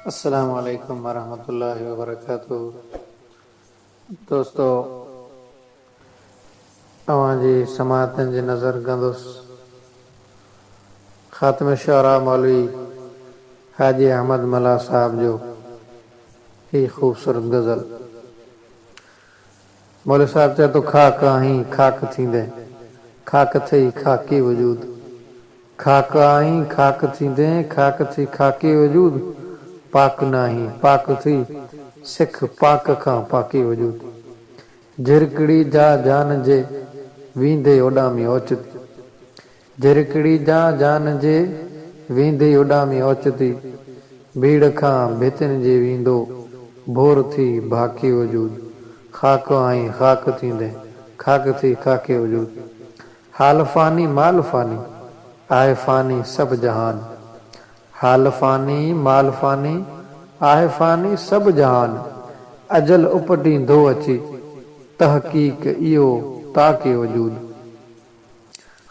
السلام عليڪم ورحمة الله وبرڪاته دوستو اوهان جي سماعتن جي نظر ڪندس خاتم الشعراء مولوي حاجي احمد ملاح صاحب جو هي خوبصورت غزل. مولوي صاحب چئي ٿو خاڪ آهين خاڪ ٿيندين خاڪ ٿئي خاڪي وجود خاڪ آهين خاڪ ٿيندين خاڪ ٿئي خاڪي وجود پاڪ ناهين پاڪ ٿئي سک پاڪ کان پاڪي وجود جهرڪڙي جا جان جي ويندي اوڏامي اوچتي جهرڪڙي جان جان جي، ويندي اڏامي اوچتي، ڀيڙ کان ڀتين جي ويندو، ڀور ٿي ڀاڪي وجود، خاڪ آئين خاڪ ٿيندين، خاڪ ٿي خاڪي وجود، حال فاني مال فاني، آهه فاني سڀ جهان، حال فاني مال فاني، آهه فاني سڀ جهان، اجل اپٽيندو اچي، تحقيق اهو تاڪي وجود.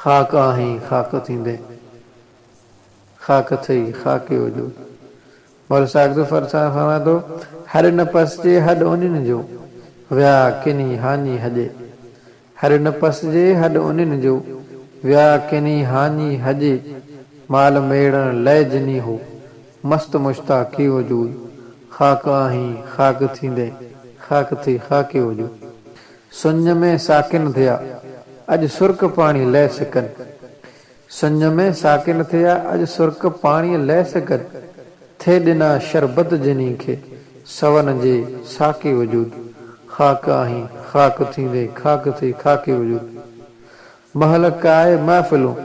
خاڪ آهين خاڪ ٿيندين خاڪ ٿئي خاڪيو جو مولوي ساگرد فرسان فرمائي ٿو هر نه پسجي هڏ انين جو ويا ڪني هاڃي هڄي هر نه پسجي هڏ انين جو ويا ڪني هاڃي هڄي مال ميڙڻ لئه جني هو مست مشتاقيو جو خاڪ آهين خاڪ ٿيندين خاڪ ٿئي خاڪيو جو. سڃ ۾ ساڪن ٿيا اڄ سرڪ پاڻي لئه سڪن. سڃ ۾ ساڪن ٿيا اڄ سرڪ پاڻي لئه سڪن. ٿي ڏنا شربت جنھين کي سون جي ساقي وجود. خاڪ آھين خاڪ ٿيندي خاڪ ٿي خاڪي وجود. مھل ڪائي محفلون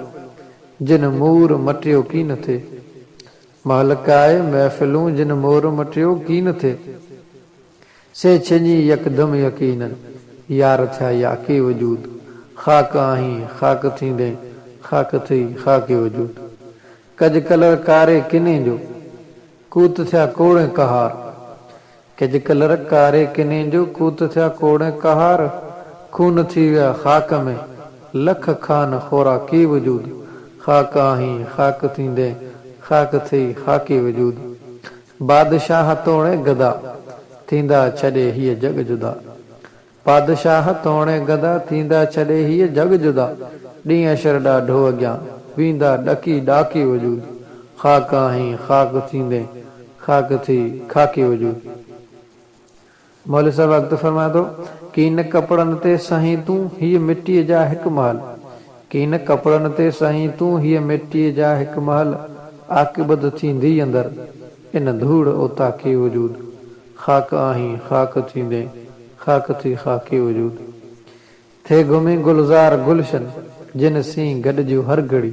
جن مور مٽيو ڪين ٿي. مھل ڪائي محفلون جن مور مٽيو ڪين ٿي. سي ڇڄي يڪدم يقينن، يار ٿيا ياڪي وجود، خاڪ آهين خاڪ ٿيندين، خاڪ ٿئي خاڪي وجود. ڪج ڪلر ڪاري ڪنين جو، ڪوت ٿيا ڪوڙين ڪهار. ڪج ڪلر ڪاري ڪنين جو، ڪوت ٿيا ڪوڙين ڪهار. خون ٿي ويا خاڪ ۾، لک خان خوراڪي وجود، خاڪ آهين خاڪ ٿيندين، خاڪ ٿئي خاڪي وجود. بادشاهه توڻي گدا، ٿيندا ڇڏي هيء جڳ جدا. بادشاهه توڻي گدا، ٿيندا ڇڏي هيء جڳ جدا. ڏينهن اشر ڏاڍو اڳيان، ويندا ڏڪي ڏاڪي وجود. خاڪ آهين، خاڪ ٿيندين، خاڪ ٿي خاڪي وجود. مولوي صاحب اڳتي فرمائي ٿو، ڪين ڪپڙن تي سائين تون هيء مٽيء جا هڪ محل، ڪين ڪپڙن تي سائين تون هيء مٽيء جا هڪ محل، عاقبت ٿينديئي اندر، ان ڌوڙ اوطاقي وجود، خاڪ آهين خاڪ ٿيندين، خاڪ ٿي خاڪي وجود. ٿي گهمين گلزار گلشن جن سين گڏجو هر گهڙي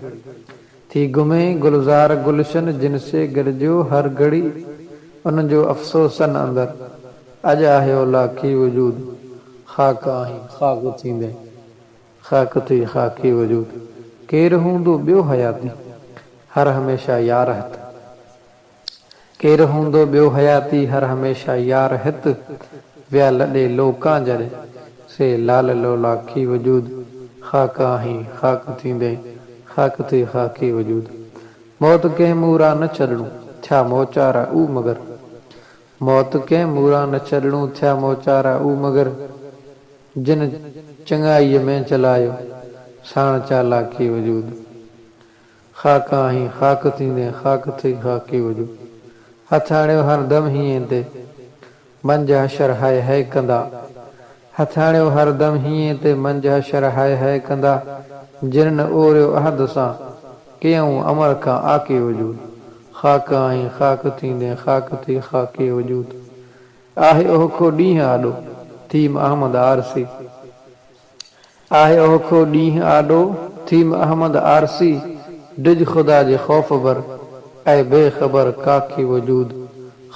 ٿي گهمين گلزار گلشن جن سي گڏجو هر گهڙي انهن جو افسوسن اندر اڄ آهي اولاقي وجود خاڪ آهين خاڪ ٿيندين خاڪ ٿي خاڪي وجود ڪير هوندو ٻيو حياتي هر هميشه يارهت. ڪير هوندو ٻيو حياتي هر هميشه يار هت ويا لڏي لوڪان جڏهن سي لال لولاکي وجود خاڪ آهين خاڪ ٿيندين خاڪ ٿئي خاڪي وجود موت ڪنهن مون را نه ڇڏڻو ٿيا موچارا او مگر موت ڪنهن مون را نه ڇڏڻو ٿيا موچارا او مگر جن چڱائيء ۾ چلايو ساڻ چالاڪي وجود. خاڪ آهين خاڪ ٿيندين خاڪ ٿئي خاڪي هجو هٿياڻيو هر دم هينئين تي منجهه حشر هاء هاء ڪندا هٿياڻيو هر دم هينئين تي منجهه حشر هاء هاء ڪندا جنھن اوريو عهد سان ڪيئون امر کان آڪي وجود خاڪ آهين خاڪ ٿيندين خاڪ ٿئي خاڪي وجود آهي اوهکو ڏينھن آڏو ٿيم احمد عارسي آهي اوکو ڏينهن آڏو ٿيم احمد آرسي ڊج خدا جي خوف بر اي بي خبر ڪاڪي وجود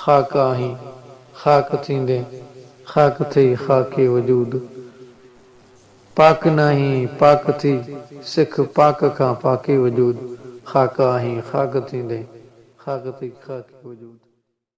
خاڪ آهين خاڪ ٿيندين خاڪ ٿئي خاڪي وجود پاڪ ناهين پاڪ ٿي سک پاڪ کان پاڪي وجود خاڪ آهين خاڪ ٿيندين خاڪ ٿئي خاڪي وجود.